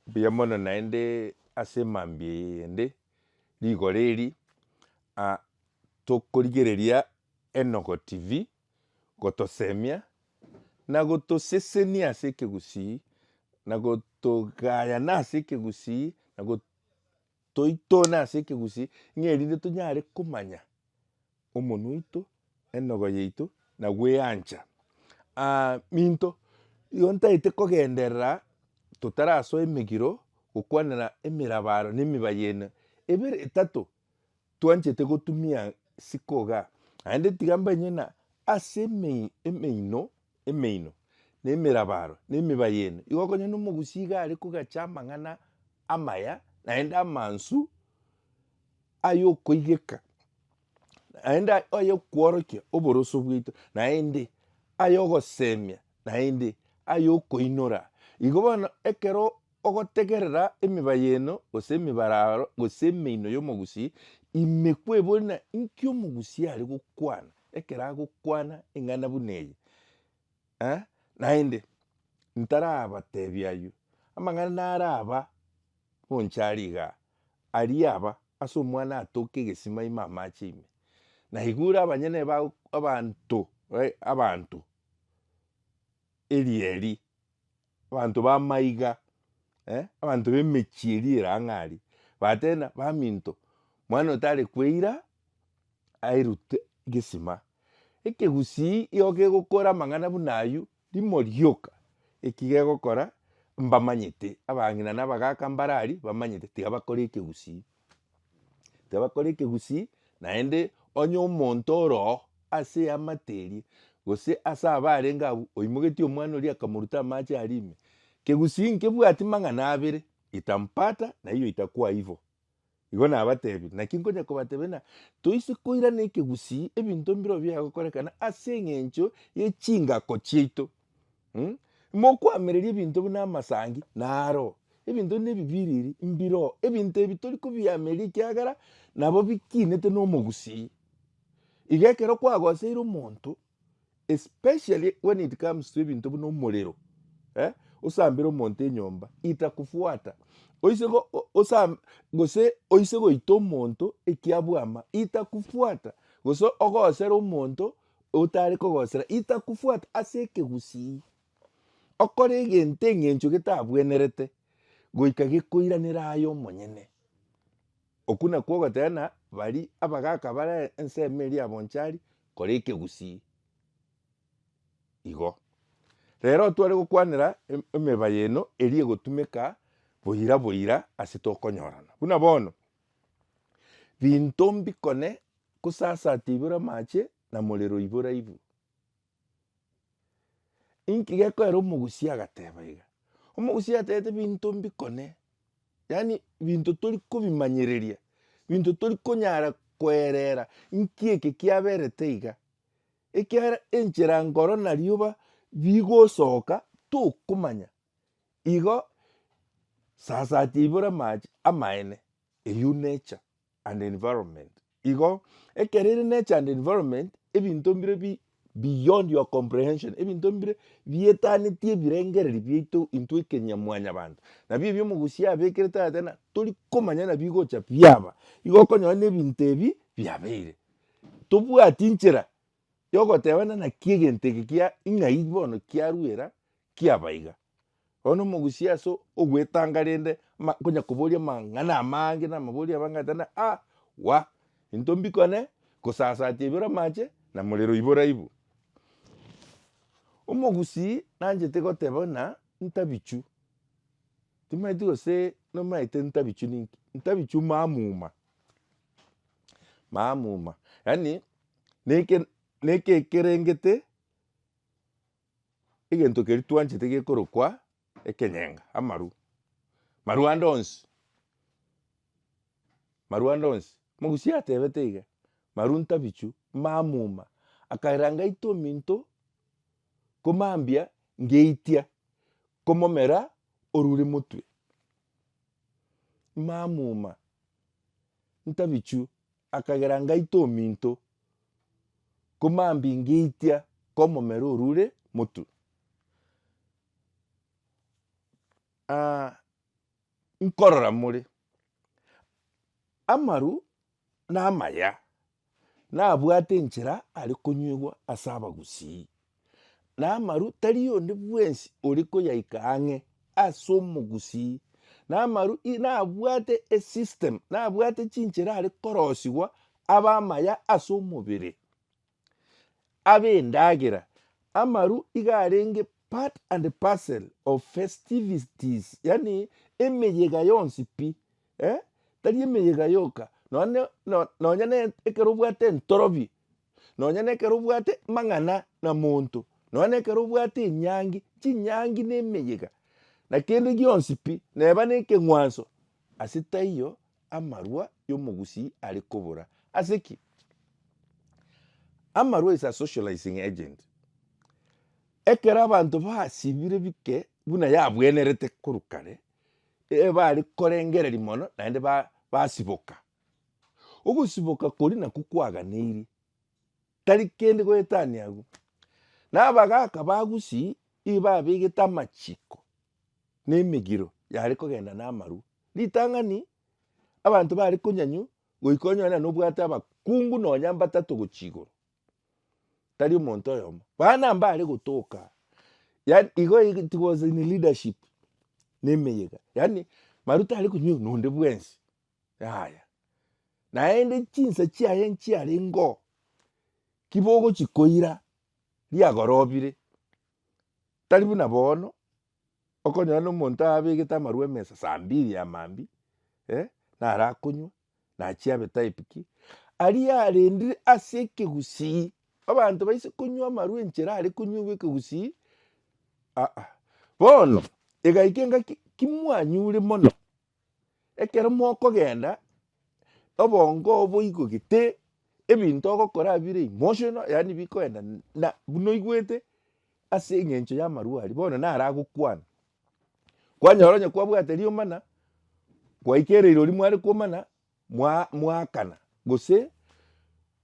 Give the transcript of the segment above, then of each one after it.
Mbuya mono naende ase mambia eyende rigoro eri, tokorigereria Enogo TV gotosemia na gotosesenia ase ekegusii na gotogaya nase ekegusii na Toitone ase ekegusii ng'a erinde tonyare komanya omonwa oito, enogo yaito, na gweancha. Minto, igo ntagete kogenderera totarasoa emegiro gokwanera emerabaro na emibaye ene ebere, etato, Twanchete gotumia sikoga, naende tiga mbanye na ase emeino emeino, na emerabaro, na emiba y'eno igo, konya nomogusii iga are kogacha amang'ana amaya, naende amansu ay'okoigeka, naende ay'okworokia oboroso bwaito, naende ay'ogosemia, naende ay'okoinora. Igo bono ekero. Ogotegerera emiba y'eno, gose emibararo, gose emeino y'omogusii, ime kwebonera inki omogusii are gokwana ekero agokwana eng'ana buna eye. Eh, naende ntarabatebia ayio amang'ana naraba bonchari igaa, aria aba ase omwana atoke egesima ime amache ime. Na igo ore abanyene ba abanto, abanto, erieri Abanto b'amaiga, eh, abanto b'emechie eria ere ang'e aria, bateebia ng'a baminto, mwana oyo tare kweira airute gisima. Ekegusii igo kegokora amang'ana buna aywo, rimo rioka eki gegokora mbamanyete, abang'ina na abagaka mbare aria bamanyete tiga bakore ekegusii. Tibakore ekegusii, naende onye omonto ore oo ase eamate eria, gose ase abaa arenge abwo, oimogetie omwana oria akamoruta amache aria ime, kegusii nkebwati mang'ana abere, itampata na hiyo itakuwa hivo. Igo nabatebirie, naki nkonya kobatebia ng'a toise koirana ekegusii ebinto mbirobio biagokorekana ase eng'encho ye chingako chiaito. Mh, mokwamereria ebinto buna amasangi naro, ebinto buna ebibiriri mbiro, ebinto ebi tori kobiamereria ekiagera nabo bikinete na omogusii. Iga ekero kwagoseire omonto, especially when it comes to ebinto buna omorero, eh, osambere omonto enyomba, itakufuata, oise go o- osam gose oise goita omonto ekiabwama, itakufuata, gose ogosere omonto. Otare kogosera itakufwata ase ekegusii, okore egento eng'encho getabwenerete goika gekoiranera aye omonyene. Okwo nakwo ogoteba bari abagaka bare ensemo eria ya bonchari kora ekegusii. Igo rero otware gokwanera emeba eye eno eria egotumeka boira boira ase tokonyorana. Buna bono Binto mbikone gosasate igoro amache, na morero igoro aibu. Inki gekoera omogusia agateba iga? Omogusia atebete binto mbikone, yaani binto tori kobimanyereria, binto tori konyara koerera inki eke kiaberete iga. Ekiagera enchera nkoro na rioba bigosoka tokomanya, Igo sasa ateibore amache amaene eyio nature and environment igo ekero ere nature and environment ebinto mbire bi beyond your comprehension ebinto mbire bietaneti ebirengereri biaito intwe ekenya mwanyabanto nabo ebio omogusia abekire tata ng'a torikomanya ng'a bigocha biaba igo okonyora ng'a ebinto ebi biabeire tobwati nchera yogoteba ng'a naki egento eke kia ng'ai bono kiarwera Kiaba iga. Oyo nomogusia ase ogwetanga rende ma konya koboria amang'ana amange na amabori abange ata na a wa into mbikone gosasatia ibere amache na morero ibora ibu. Omogusii nanchete goteba buna ntabichu timanyeti gose nomanyete ntabichu ninki? Ntabichu mamuma mamuma yaani neke neke ekerengete. Egento keria twanchete gekorokwa ekenyenga, amaru. Maru ande onsi, maru ande onsi. Mogusi atebete iga, maru ntabichu, mamuma. Akaira ngaita ominto komambia ngeitia komomera orure motwe. Mamuma, ntabichu akagera ngaite ominto komambia ngeitia komomero orure motu. nkorora more, amaru namaya. nabwate enchera are konyuegwa ase abagusii, na amaru tari onde bwensi ore koyaika ang'e ase omogusii, na amaru i nabwate esystem, nabwate chinchera are korosigwa abe amaya ase omobere, abe endagera, amaru iga arenge part and parcel of festivities, yaani emeyega yonsi pi eh, tari emeyega yoka, nonya no nonya ne ekero obwate entorobi, nonya na ekero obwate mang'ana na monto, nonya na ekero obwate enyangi, chinyangi na emeyega, na kende gionsi pi, neba na ekeng'wanso, ase taiyo amarwa ya omogusii are kobora. Ase ki? Amarwa is a socializing agent. Ekero abanto basibire bike buna yabwenerete korwa kare, ebare korengereria mono naende basiboka. Ogosiboka koria nakwo kwaganeirie, tari kende goetania agwo. Na abagaka ba Gusii nigo babegete amachiko na emegiro yare kogenda na amarwa. Ritang'ani abanto bare konyanywa goika onyore nobwate abakungu nonya mbatato gochia igoro. tari omonto oyomo bana mbare gotoka yaani igo it was in leadership ne emeyega yaani maru tare konywa oyo nonde bwensi yaya naende chinsa chiaye nchiarengeo kibogochi koira riagorobire tari buna bono okonyora na omonto abegete amarwa emesa saa mbiri ya maambia eh narakonywa nachiabe type ki aria arendire ase ekegusii abanto baise konywa amarwa enchera are konywewa ekegusii ah ah. Bono egaika engaki kimwanyure mono ekero mokogenda obongo oo boigo gete ebinto ogokora bire emotional yaani bikoenda na buna oigwete ase eng'encho y'amarwa aria bono naro agokwana. Kwanyora onye kwabwate riomana, kwaikera irori mware komana, mwa- mwaakana, gose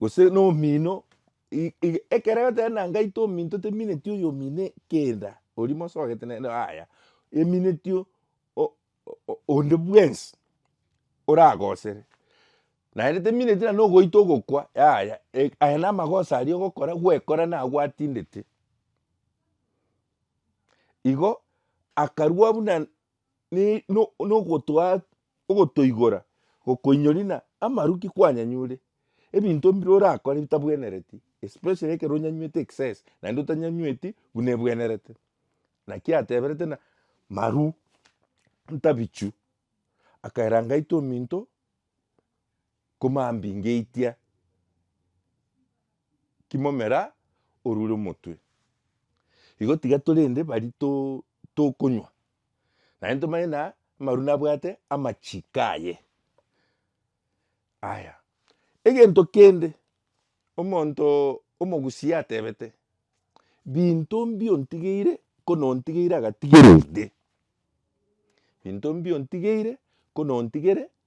gose na omino i- i- ekero egoteba na ngaite ominto temineti oyo omino kenda, oria mosogete nere yaya, emineti o- o- o- onde bwensi oragosere, naende temineti na nogoita ogokwa yaya, e- aya namagoso aria ogokora, gwekora nagwo atindete. Igo akarua buna nogotoigora gokoinyori na amaruki kwanyanyure ebinto mbire orakore bitabwenereti especially ekero onyanywete excess naende otanyanyweti buna ebwenerete naki ateberete ng'a marwa ntabichu akaira ngaito ominto. Komambi ngeitia kimomera orure omotwe. Igo tiga torende bari tokonywa, naende tomanye na amaru nabwate amachiko aye. Aya, egento kende omonto omogusia atebete, binto mbiontigeire ko nontigeire agatigerende, binto mbiontigeire ko nontigerende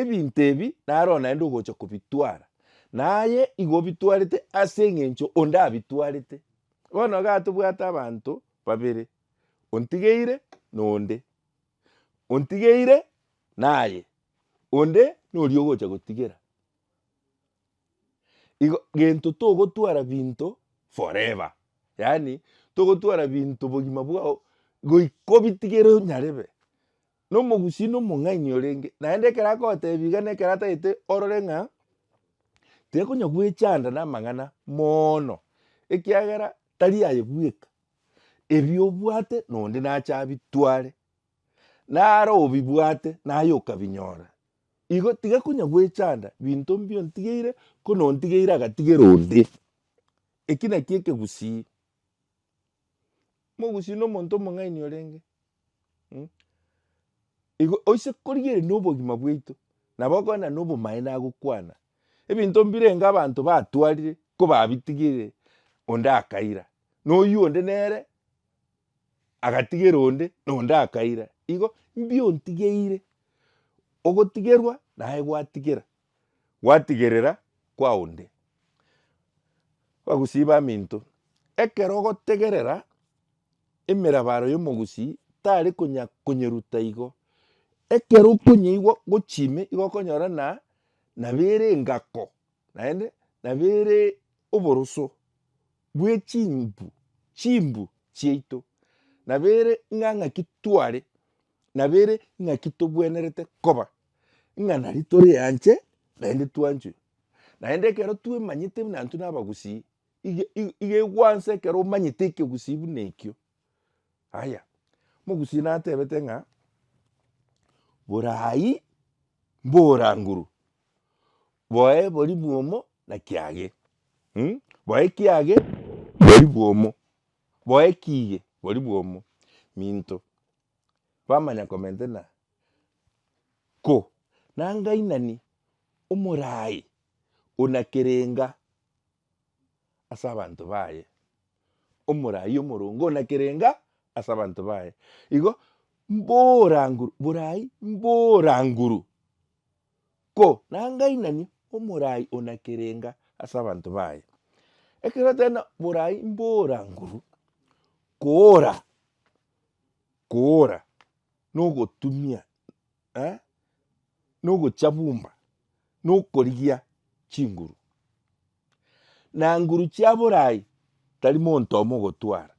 Ebinto ebi naro naende ogocha kobitwara, na aye igo obitwarete ase engencho onde abitwarete. Bono igaa tobwate abanto babere, ontigeire na onde, ontigeire na aye, onde na oria ogocha gotigera. Igo gento togotwara binto forever, yaani togotwara binto bogima bwao goika obitigere onyarebe. Nomogusii nomong'aini orenge, naende ekero agotebiwa iga na ekero atagete orore ng'a tekonya gwechanda namang'ana moono, ekiagera tari aye bweka, ebi obwate nonde nache abitware, naro obibwate naye okabinyora. Igo tiga konya gwechanda binto mbi ontigeire ko nontigeire agatigera onde. Eki nakio ekegusii. Mogusii nomonto omong'aini orenge. Mh igo oise korigereria nobogima bwaito nabo okogenda nobomaene agokwana ebinto mbirenga abanto batwarire kobabitigere onde akaira noywo onde nere agatigera onde na onde akaira igo mbi ontigeire ogotigerwa naye gwatigera. gwatigerera kwa onde. Abagusii baminto, ekero ogotegerera emerabaro y'omogusii tari konya konyeruta igo, ekero okonyeigwa gochia ime igo okonyora na nabo ere engako naende nabo ere oboroso bwe chimbu chimbu chiaito, nabo ere ng'a ng'aki tware, nabo ere ng'aki tobwenerete koba. ng'a nari tore anche naende twanchwe. Naende ekero twemanyete buna intwe nabagusii, iga iga iga egwansa ekero omanyete ekegusii buna ekio. Haya, mogusii natebete ng'a, borai mboranguru, boe bori bwomo na kiage mmh, boe kiage bori bwomo, boe kiige bori bwomo, minto bamanya komentena ko nangainani omorai ona kerenga ase abanto baye, omorai omoronge ona kerenga ase abanto baye. Igo mboranguru borai mboranguru ko nangainani omorai ona kerenga ase abanto baye. Ekero ateba borai mboranguru koora. koora, nogotumia, eh, nogochabumba, nokorigia chinguru. Na nguru chia borai tari monto omo ogotwara.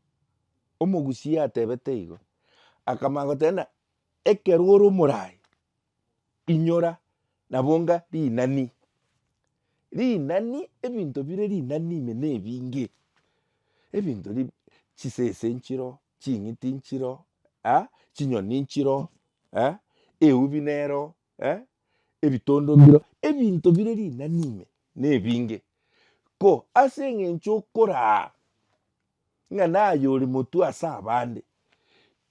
Omogusia atebete igo, akamanya goteba ng'a. Ekero ore omorai, inyora na bonga rinani. Rinani ebinto bire rinani ime nebinge. Ebinto bi, chisese nchiro, ching'iti nchiro, eh, chinyoni nchiro, eh, eubi nero, eh, ebitondogiro, ebinto bire rinani ime nebinge, ko ase engencho okoraa ng'a naye ore motwe ase abande,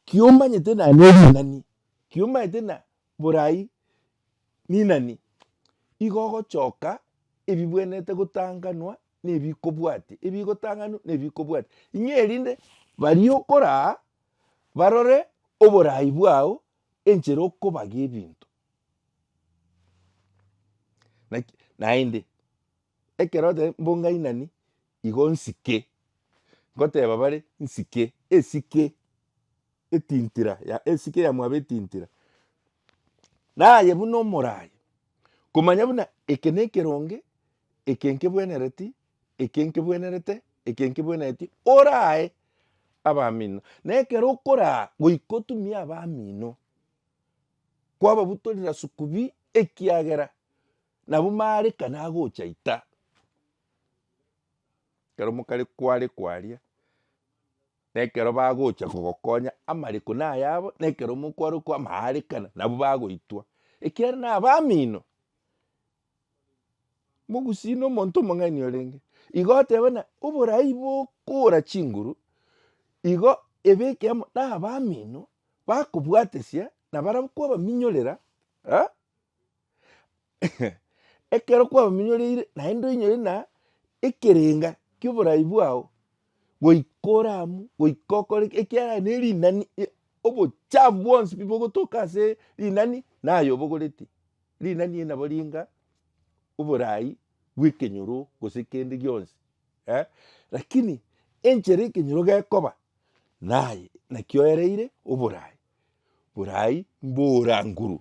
kiomanyete na neri nani, kiomanyete na borai ninani, igo ogochoka ebibwenerete gotanganwa nebikobwati, ebigotanganu nebikobwati, ng'a erinde baria okoraa barore oborai bwao enchera okobaga ebinto naki naende ekero oteba mbu ngainani igo nsike, ngoteba bare nsike esike etintira ya esike ya mwabo etintira. Naye buna omoraai komanya buna eke nekeronge eke nkebwenereti. eke nkebwenerete, eke nkebwenereti, orae abamino. Na ekero okoraa goika otumie abamino, kwababutorera sukubi ekiagera nabwo maareka nagocha ita. Ekero mokare kware kwaria, na ekero bagocha kogokonya amareko nayabo, na ekero mokware kwamaaarekana nabwo bagoitwa ekiagera nabamino. Mogusii na omonto omong'aini orenge. Igo oteba na oborai bokora chinguru, igo ebeke amo na abamino bakobwatesia na barabwo kwabaminyorera eh ekero kwabaminyoreire naende onyore na ekerenga kia oborai bwao goika oramu goika okore ekiagera ne rinani e- obochafu bwonsi pi bogotoka ase rinani naye obogoreti rinani eri nabo ringa oborai bwa ekenyoro gose kende gionsi eh lakini enchera ekenyoro gekoba naye naki oereire oborai, borai mboranguru.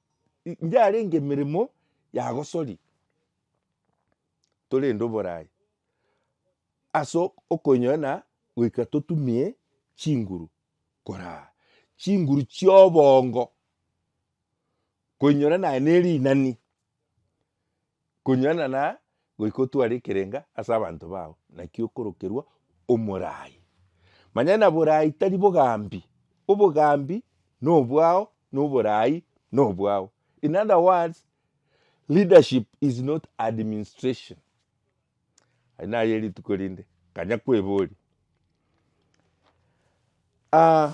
Inche arenge emeremo ya gosori torende oborai ase okoinyora na goika totumie chinguru koraa chinguru chia obongo koinyora naye ne rinani. Konyuana na goika otware ekerenga ase abanto bao, naki okorokerwa omoraai. Manya na boraai tari bogambi, obogambi nobwao na oboraai nobwao. In other words, leadership is not administration. Aye naye rituko rinde, kanya kweboria. Ah.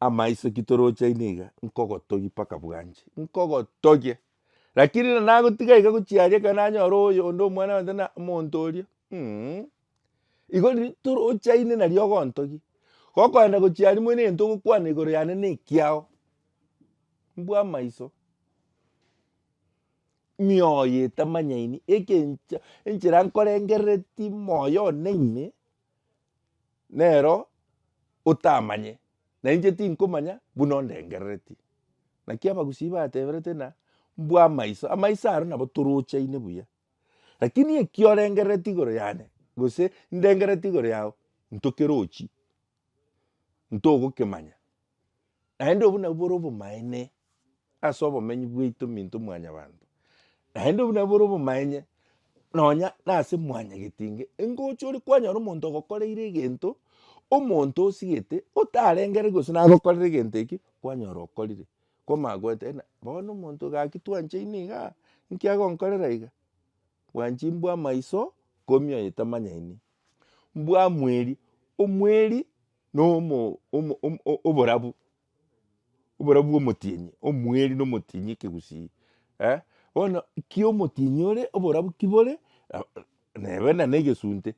Amaiso ki torochaine iga, nkogotogia mpaka bwanche, nkogotogia. Rakini riria nagotiga iga gochia aria ekero nanyora oyo onde omwana one tari na omonto oria um, igo riria torochaine nari ogontogia. Gokoenda gochia aria mono egento ogokwana igoro yane na ekiao, mbua amaiso. Mioyo etamanyaini, egencha enchera nkorengereretie moyo one ime. nero otamanye, na inche tinkomanya buna ondengerereti. Naki abagusii bateberete ng'a mbwa amaiso, amaiso aro nabo torochaine buya. Rakini ekio orengerereti igoro yane, gose ndengerereti igoro yao, ntokerochi, ntogokemanya. Naende obwo nabwo bore obomaene ase obomenyi bwaito minto mwanyabanto, naende obwo nabwo bore obomaenye nonya na ase mwanyagetinge, engocha ore kwanyora omonto ogokoreire egento, omonto osigete otarengere gose nagokorera egento eke kwanyora okorire, kwamanya goeta eena bono omonto gaki twanchaine igaa, nki agonkorera iga? Bwanchi mbwamaiso ikomi oyo tamanyaini, mbwamweri, omweri. noborabu, oborabu bw'omotienyi, omweri na omotienyi ekegusii, bono ki omotienyi ore oborabu ki bore, neba na negesunte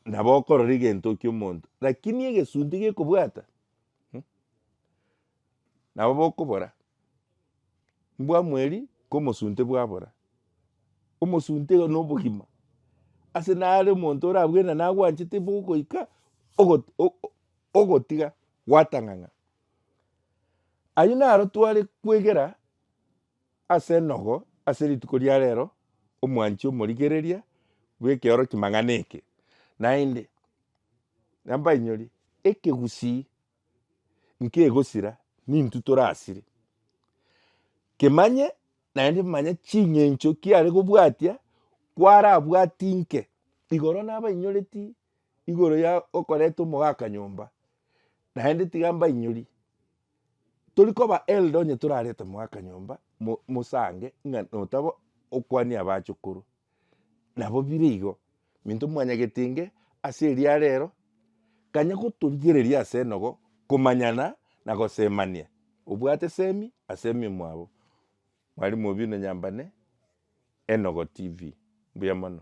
nabo okorora egento kia omonto, lakini egesunte gekobwata. Nabo bokobora, Mbwamweri komosunte bwabora, omosunte iga nobogima, ase nare omonto orabwire na nagwanchete bo ogoika ogo- o- o- ogotiga gwatang'ang'a. Ayio naro tware kwegera ase enogo ase rituko ria rero, omwanchi omorigereria bw'ekeoro kimang'ana eke. Naende, nambainyori, ekegusii nkegosira nintwe torasire kemanye naende manya ching'encho kiare kobwatia kwarabwati inke igoro nabainyoreti igoro ya okoreta omogaka nyomba naende tiga mbainyori tori koba held onye torarete omogaka nyomba mo mosange ng'a notaba okwania abachokoro. Nabo bire igo, minto mwanyagete inge ase eria rero, kanya gotorigereria ase enogo komanyana na gosemania. Obwate semi ase ememwabo. Mwalimu Obino Nyambane, Enogo TV. Mbuya mono.